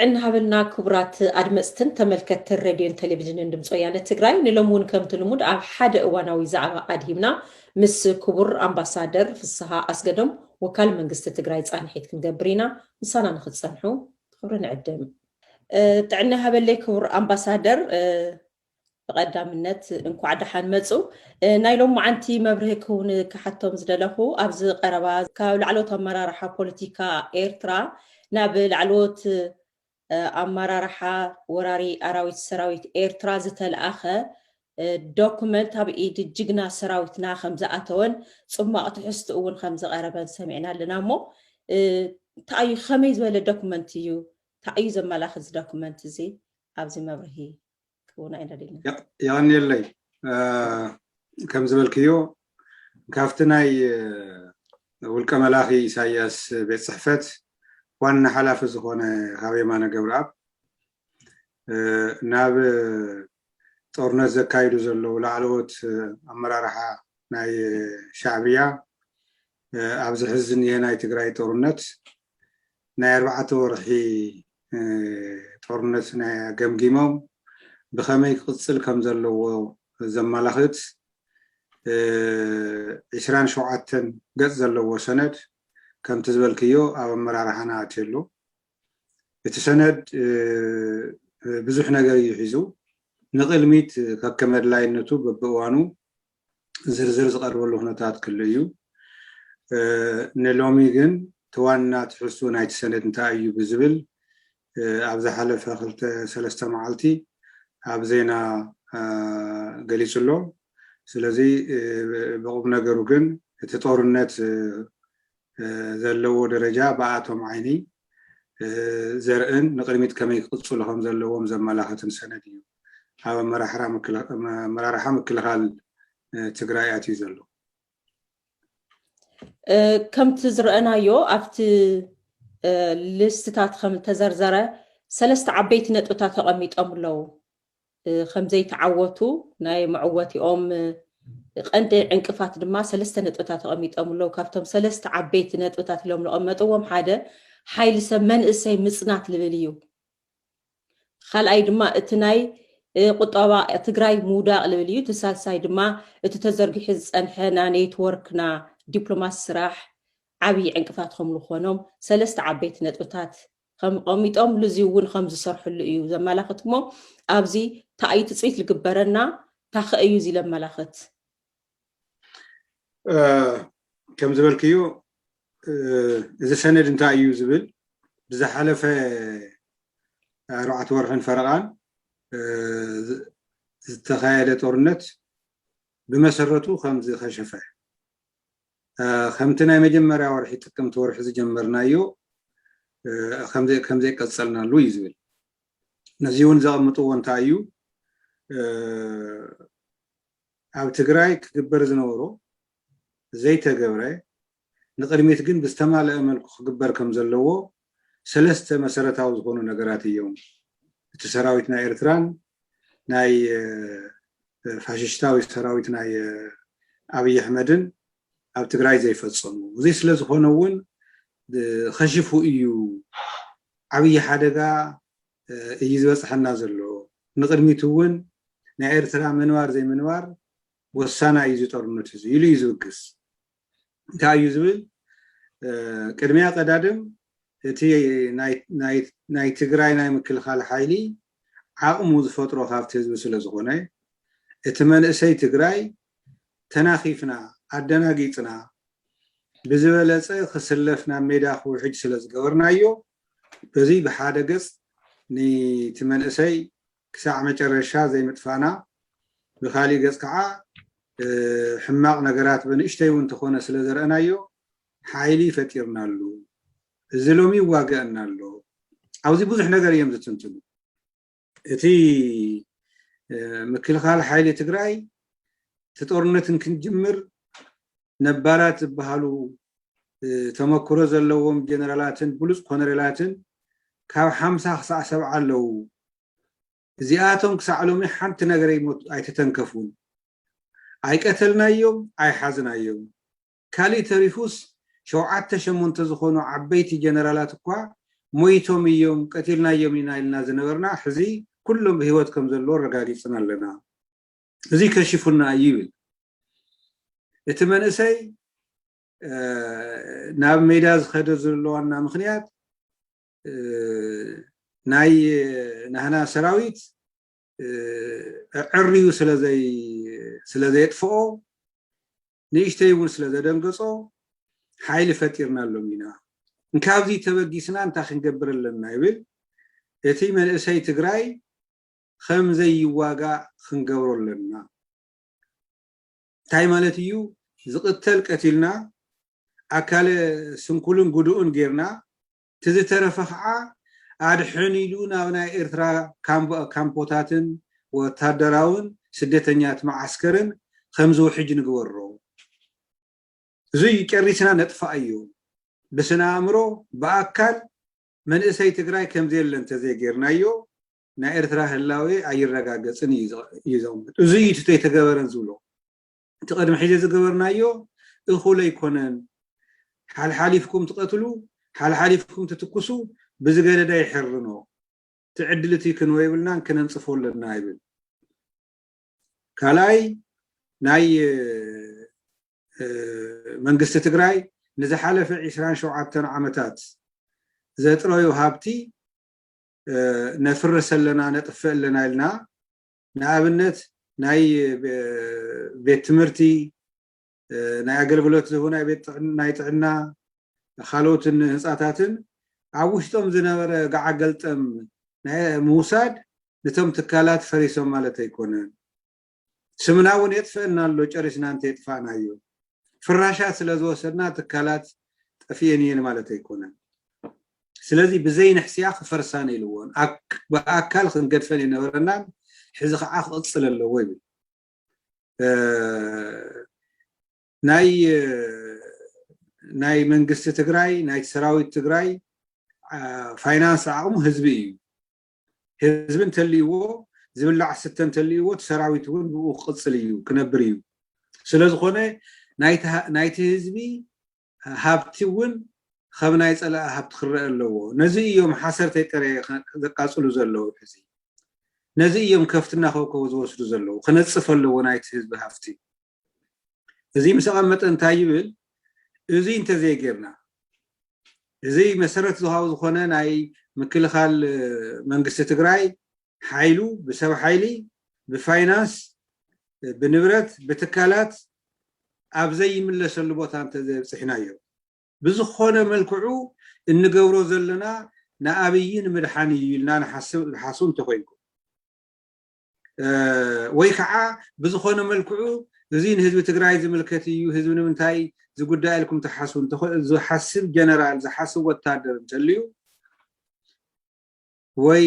ጥዕና ሃበልና ክቡራት ኣድመፅትን ተመልከትትን ሬድዮን ቴሌቪዥንን ድምፂ ወያነ ትግራይ ንሎም እውን ከምቲ ልሙድ ኣብ ሓደ እዋናዊ ዛዕባ ኣድሂብና ምስ ክቡር ኣምባሳደር ፍስሃ ኣስገዶም ወካል መንግስቲ ትግራይ ፃንሒት ክንገብር ኢና ምሳና ንክትፀንሑ ክብሪ ንዕድም ጥዕና ይሃበለይ ክቡር ኣምባሳደር ብቐዳምነት እንኳዕ ደሓን መፁ ናይ ሎማዓንቲ መብርሂ ክውን ክሓቶም ዝደለኹ ኣብዚ ቀረባ ካብ ላዕለዎት ኣመራርሓ ፖለቲካ ኤርትራ ናብ ላዕለዎት ኣመራርሓ ወራሪ ኣራዊት ሰራዊት ኤርትራ ዝተለኣኸ ዶኩመንት ኣብ ኢድ ጅግና ሰራዊትና ከምዝኣተወን ጽሟቕ ትሕዝትኡ እውን ከምዝቐረበን ሰሚዕና ኣለና እሞ እንታይ እዩ ከመይ ዝበለ ዶኩመንት እዩ እንታይ እዩ ዘመላኽት እዚ ዶኩመንት እዚ ኣብዚ መብርሂ ክህቡና ኢና ደሊና ያኔለይ ከም ዝበልክዮ ካብቲ ናይ ውልቀ መላኺ ኢሳያስ ቤት ፅሕፈት ዋና ሓላፊ ዝኾነ ካብ የማነ ገብረኣብ ናብ ጦርነት ዘካይዱ ዘለዉ ላዕለዎት ኣመራርሓ ናይ ሻዕብያ ኣብዚ ሕዚ ዝኒሀ ናይ ትግራይ ጦርነት ናይ ኣርባዕተ ወርሒ ጦርነት ናይ ገምጊሞም ብኸመይ ክቕፅል ከም ዘለዎ ዘመላኽት ዕስራን ሸውዓተን ገፅ ዘለዎ ሰነድ ከምቲ ዝበልክዮ ኣብ ኣመራርሓና ኣትየሉ እቲ ሰነድ ብዙሕ ነገር እዩ ሒዙ። ንቕድሚት ከከም ኣድላይነቱ በብእዋኑ ዝርዝር ዝቐርበሉ ኩነታት ክህሉ እዩ። ንሎሚ ግን እቲ ዋና ትሕዝትኡ ናይቲ ሰነድ እንታይ እዩ ብዝብል ኣብ ዝሓለፈ ክልተ ሰለስተ መዓልቲ ኣብ ዜና ገሊጹ ኣሎ። ስለዚ ብቑም ነገሩ ግን እቲ ጦርነት ዘለዎ ደረጃ ብኣቶም ዓይኒ ዘርእን ንቕድሚት ከመይ ክቕፅሉ ከምዘለዎም ዘመላኽትን ሰነድ እዩ ኣብ ኣመራርሓ ምክልኻል ትግራይ ኣትዩ ዘሎ። ከምቲ ዝረአናዮ ኣብቲ ልስትታት ከም ተዘርዘረ ሰለስተ ዓበይቲ ነጥብታት ተቐሚጦም ኣለዉ። ከምዘይተዓወቱ ናይ መዕወቲኦም ቀንዲ ዕንቅፋት ድማ ሰለስተ ነጥብታት ተቐሚጦም ኣለዉ። ካብቶም ሰለስተ ዓበይቲ ነጥብታት ኢሎም ዝቐመጥዎም ሓደ ሓይሊ ሰብ መንእሰይ ምፅናት ልብል እዩ። ካልኣይ ድማ እቲ ናይ ቁጠባ ትግራይ ምውዳቕ ልብል እዩ። እቲ ሳልሳይ ድማ እቲ ተዘርጊሑ ዝፀንሐ ና ኔትወርክ ና ዲፕሎማሲ ስራሕ ዓብዪ ዕንቅፋት ከም ዝኾኖም ሰለስተ ዓበይቲ ነጥብታት ከም ቐሚጦም ልዙይ እውን ከም ዝሰርሕሉ እዩ ዘመላኽት እሞ ኣብዚ ታእዩ ትፅቢት ልግበረና ታኸ እዩ እዚ ለመላኽት ከም ዝበልክዩ እዚ ሰነድ እንታይ እዩ ዝብል ብዝሓለፈ ኣርባዕተ ወርሕን ፈረቓን ዝተኻየደ ጦርነት ብመሰረቱ ከምዝኸሸፈ ከምቲ ናይ መጀመርያ ወርሒ ጥቅምቲ ወርሒ ዝጀመርናዮ ከምዘይቀፀልናሉ እዩ ዝብል ነዚ እውን ዘቐምጥዎ እንታይ እዩ ኣብ ትግራይ ክግበር ዝነበሮ ዘይተገብረ ንቅድሚት ግን ብዝተማለአ መልኩ ክግበር ከም ዘለዎ ሰለስተ መሰረታዊ ዝኾኑ ነገራት እዮም እቲ ሰራዊት ናይ ኤርትራን ናይ ፋሽሽታዊ ሰራዊት ናይ ኣብይ ኣሕመድን ኣብ ትግራይ ዘይፈጸሙ እዚ ስለ ዝኾነ እውን ኸሽፉ እዩ ዓብዪ ሓደጋ እዩ ዝበፅሐና ዘሎ ንቅድሚት እውን ናይ ኤርትራ ምንባር ዘይምንባር ወሳና እዩ እዚ ጦርነት እዚ ኢሉ እዩ ዝብግስ እንታይ እዩ ዝብል ቅድሚያ ቀዳድም እቲ ናይ ትግራይ ናይ ምክልኻል ሓይሊ ዓቕሙ ዝፈጥሮ ካብቲ ህዝቢ ስለ ዝኾነ እቲ መንእሰይ ትግራይ ተናኺፍና ኣደናጊፅና ብዝበለፀ ክስለፍ ናብ ሜዳ ክውሕጅ ስለ ዝገበርናዮ በዚ ብሓደ ገፅ ንቲ መንእሰይ ክሳዕ መጨረሻ ዘይምጥፋእና፣ ብኻሊእ ገፅ ከዓ ሕማቕ ነገራት በንእሽተይ እውን ተኾነ ስለዘረእናዮ ሓይሊ ፈጢርናሉ። እዚ ሎሚ ይዋገእና ኣሎ። ኣብዚ ብዙሕ ነገር እዬም ዝትንትኑ። እቲ ምክልኻል ሓይሊ ትግራይ እቲ ጦርነት እንክንጅምር ነባራት ዝበሃሉ ተመክሮ ዘለዎም ጀነራላትን ብሉፅ ኮነሬላትን ካብ ሓምሳ ክሳዕ ሰብዓ ኣለዉ። እዚኣቶም ክሳዕ ሎሚ ሓንቲ ነገር ኣይተተንከፉን። ኣይቀተልናዮም፣ ኣይሓዝናዮም። ካሊእ ተሪፉስ ሸውዓተ ሸሞንተ ዝኾኑ ዓበይቲ ጀነራላት እኳ ሞይቶም እዮም፣ ቀቲልናዮም ኢና ኢልና ዝነበርና ሕዚ ኩሎም ብህይወት ከምዘለዉ ኣረጋጊፅና ኣለና። እዙይ ከሺፉና እዩ ይብል እቲ መንእሰይ ናብ ሜዳ ዝኸደ ዘሎ ዋና ምክንያት ናይ ናህና ሰራዊት ዕርዩ ስለዘየጥፍኦ ንእሽተይ እውን ስለዘደንገፆ ሓይሊ ፈጢርና ኣሎም ኢና እንካብዚ ተበጊስና እንታይ ክንገብር ኣለና ይብል እቲ መንእሰይ ትግራይ ኸም ዘይዋጋእ ኽንገብሮ ኣሎና። እንታይ ማለት እዩ? ዝቕተል ቀቲልና፣ ኣካለ ስንኩልን ጉዱእን ጌርና፣ እቲ ዝተረፈ ኸዓ ኣድሕን ኢሉ ናብ ናይ ኤርትራ ካምፖታትን ወታደራውን ስደተኛት መዓስከርን ኸም ዝውሕጅ ንግበሮ። እዙይ ጨሪስና ነጥፍኣዮ። ብስነ ኣእምሮ፣ ብኣካል መንእሰይ ትግራይ ከም ዘየለ እንተዘይጌርናዮ ናይ ኤርትራ ህላዌ ኣይረጋገጽን እዩ እዩ ዘቕምጥ። እዚ እዩ እቲ ተይተገበረን ዝብሎ። እቲ ቅድሚ ሕዚ ዝገበርናዮ እኹል ኣይኮነን። ሓልሓሊፍኩም ትቐትሉ፣ ሓልሓሊፍኩም ትትኩሱ፣ ብዝገደዳ ይሕርኖ። እቲ ዕድል እቲ ክንወ የብልናን ክነንጽፎ ኣለና ይብል። ካልኣይ ናይ መንግስቲ ትግራይ ንዝሓለፈ ዒስራን ሸውዓተን ዓመታት ዘጥረዩ ሃብቲ ነፍርስ ኣለና ነጥፍእ ኣለና ኢልና ንኣብነት ናይ ቤት ትምህርቲ ናይ ኣገልግሎት ዝህቡ ናይ ጥዕና ካልኦትን ህንፃታትን ኣብ ውሽጦም ዝነበረ ገዓገልጠም ምውሳድ ንቶም ትካላት ፈሪሶም ማለት ኣይኮነን ስምና እውን የጥፍእና ኣሎ ጨሪስና እንተየጥፋእናዮ። ፍራሻት ስለዝወሰድና ትካላት ጠፊኤን እየን ማለት ኣይኮነን። ስለዚ ብዘይንሕስያ ክፈርሳን የልዎን ብኣካል ክንገድፈን የነበረናን ሕዚ ከዓ ክቕፅል ኣለዎ ይብል ናይ ናይ መንግስቲ ትግራይ ናይ ሰራዊት ትግራይ ፋይናንስ ዓቕሙ ህዝቢ እዩ ህዝቢ እንተልይዎ ዝብላዕ ዝስተ እንተልይዎ እቲ ሰራዊት እውን ብኡ ክቕፅል እዩ ክነብር እዩ ስለዝኾነ ናይቲ ህዝቢ ሃብቲ እውን ከም ናይ ፀላኢ ሃብቲ ክረአ ኣለዎ ነዚ እዮም ሓሰርተይ ጥረ ዘቃፅሉ ዘለዉ ሕዚ ነዚ እዮም ከፍቲ እናኸብከቡ ዝወስዱ ዘለዉ ክነፅፍ ኣለዎ ናይቲ ህዝቢ ሃፍቲ እዚ ምስ ኣቐመጠ እንታይ ይብል እዚ እንተዘይጌርና እዚ መሰረት ዝሃው ዝኾነ ናይ ምክልኻል መንግስቲ ትግራይ ሓይሉ ብሰብ ሓይሊ ብፋይናንስ ብንብረት ብትካላት ኣብ ዘይምለሰሉ ቦታ እንተዘይብፅሕናዮ ብዝኾነ መልክዑ እንገብሮ ዘለና ንኣብይ ንምድሓን እዩ ኢልና ንሓስብ ሓስቡ እንተኮይንኩም ወይ ከዓ ብዝኾነ መልክዑ እዚ ንህዝቢ ትግራይ ዝምልከት እዩ ህዝቢ ንምንታይ ዝጉዳይ ኢልኩም ትሓስቡ ዝሓስብ ጀነራል ዝሓስብ ወታደር እንተልዩ ወይ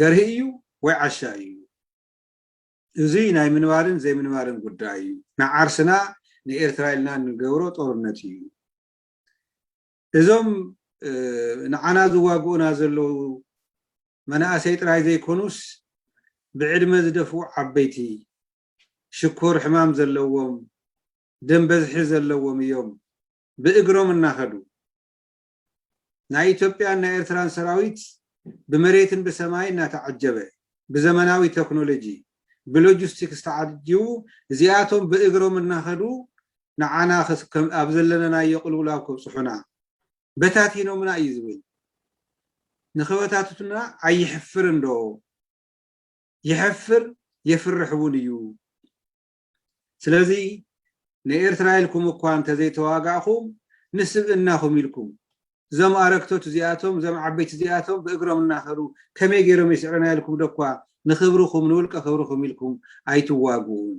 ገርሂ እዩ ወይ ዓሻ እዩ እዚ ናይ ምንባርን ዘይምንባርን ጉዳይ እዩ ንዓርስና ንኤርትራ ኢልና ንገብሮ ጦርነት እዩ እዞም ንዓና ዝዋግኡና ዘለዉ መናእሰይ ጥራይ ዘይኮኑስ ብዕድመ ዝደፍኡ ዓበይቲ፣ ሽኮር ሕማም ዘለዎም፣ ደም በዝሒ ዘለዎም እዮም ብእግሮም እናኸዱ። ናይ ኢትዮጵያን ናይ ኤርትራን ሰራዊት ብመሬትን ብሰማይን እናተዓጀበ፣ ብዘመናዊ ተክኖሎጂ፣ ብሎጂስቲክስ ተዓጂቡ እዚኣቶም ብእግሮም እናኸዱ ንዓና ኣብ ዘለነናዮ ቅልውላው ከብጽሑና በታቲኖምና እዩ ዝብል ንክበታትቱና ኣይሕፍርን ዶ ይሕፍር የፍርሕ እውን እዩ ስለዚ ንኤርትራ ኢልኩም እኳ እንተዘይተዋጋእኹም ንስብእናኹም ኢልኩም እዞም ኣረግቶት እዚኣቶም እዞም ዓበይቲ እዚኣቶም ብእግሮም እናኸዱ ከመይ ገይሮም ይስዕርና ኢልኩም ዶ እኳ ንክብርኹም ንውልቀ ክብርኹም ኢልኩም ኣይትዋግኡን